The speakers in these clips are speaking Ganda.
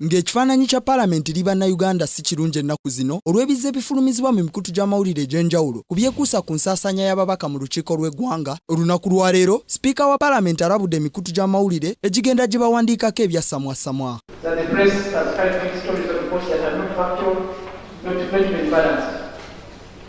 Ng'ekifaananyi kya Palamenti eri Bannayuganda si kirungi ennaku zino olw'ebizze bifulumizibwa mu mikutu gy'amawulire egy'enjawulo ku byekuusa ku nsaasaanya y'ababaka mu lukiiko lw'eggwanga, olunaku lwa leero, Sipiika wa Palamenti alabudde emikutu gy'amawulire egigenda gibawandiikako ebyassamwassamwa.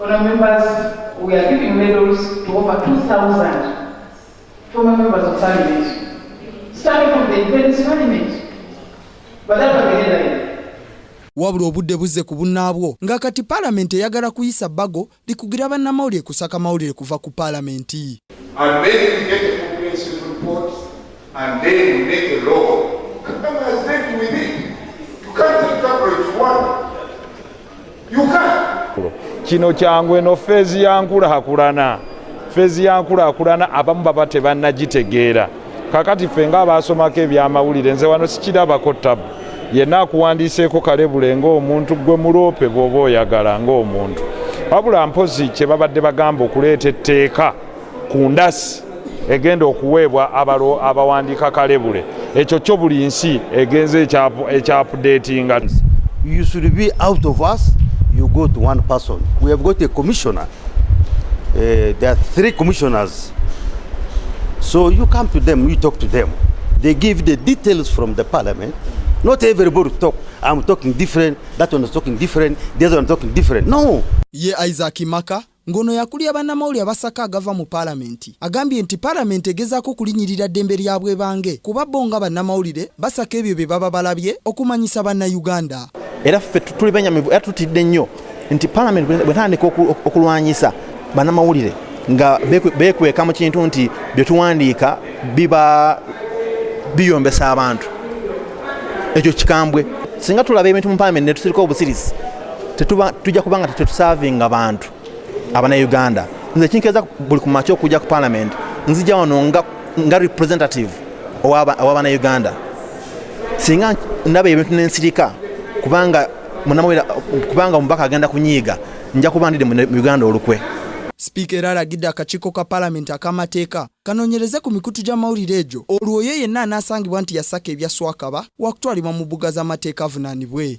Honourable members, we are giving medals to over 2,000 former members of parliament, starting from the independence parliament. But that was the headline. wabula obudde buzze ku bunnaabwo nga kati paalamenti eyagala kuyisa bbago likugira bannamawulire kusaka mawulire kuva ku paalamenti kino kyangu eno feezi ya nkulakulana feezi ya nkulakulana abamu baba tebannagitegeera kakati ffe nga abaasomako ebyamawulire nze wano sikirabako tabu yenna akuwandiiseeko kalebule ng'omuntu gwe muloope bw'oba oyagala ng'omuntu wabula mpozi kye babadde bagamba okuleeta etteeka ku ndasi egenda okuweebwa abalo abawandiika kalebule ekyo kyo buli nsi egenze ekyapudetinga you should be out of us you go to one person we have got a commissioner uh, there are three commissioners so you come to them you talk to them they give the details from the parliament not everybody talk i'm talking different that one is talking different the other one talking different no ye isaac maka Ng'ono yakulira bannamawulire abasaka agava mu palamenti, agambye nti palamenti egezaako kulinyirira ddembe lya bwebange kuba bbo nga bannamawulire basaka ebyo bye baba balabye okumanyisa bannayuganda. Era ffe tuli benyamivu era tutidde nnyo nti palamenti bwetandika okulwanyisa bannamawulire nga bekweka mu kintu nti byetuwandiika biba biyombesa abantu ekyo kikambwe singa tulaba ebintu mu palamenti netusirika obusirisi tujja kubanga tetusavinga bantu abanauganda nze kinkeza buli kumakya okujja ku palamenti nzija wano nga, nga representative owabanauganda singa ndaba ebintu nensirika kubanga munamwera kubanga omubaka agenda kunyiiga nja kuba ndide mu uganda olukwe sipiika era alagidde akakiiko ka palamenti ak'amateeka kanoonyereze ku mikutu gy'amawulire egyo olwo oyo yenna anaasangibwa nti yasaka ebyaswakaba wakutwalibwa mu bbuga z'amateeka avunaanibwe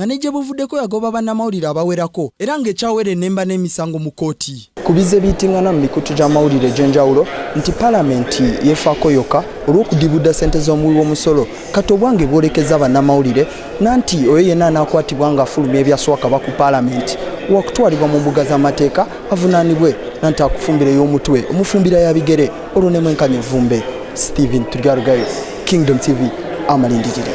nga ne gye buvuddeko yagoba bannamawulire abawerako era ng'ekyawera enemba n'emisango mu kkooti. Ku bizze biyittingana mu mikutu gy'amawulire egy'enjawulo nti palamenti yeefaako yokka olw'okudibudda ssente z'omuwi w'omusolo kati obwange bwolekezza bannamawulire nanti oyo yenna anaakwatibwa ng'afulumya ebyaswakaba ku palamenti wakutwalibwa mu mbuga z'amateeka avunaanibwe nanti akufumbira ey'omutwe omufumbira ya bigere olwo ne mwenkanya evvumbe stephen turyarugayo kingdom tv amalindirire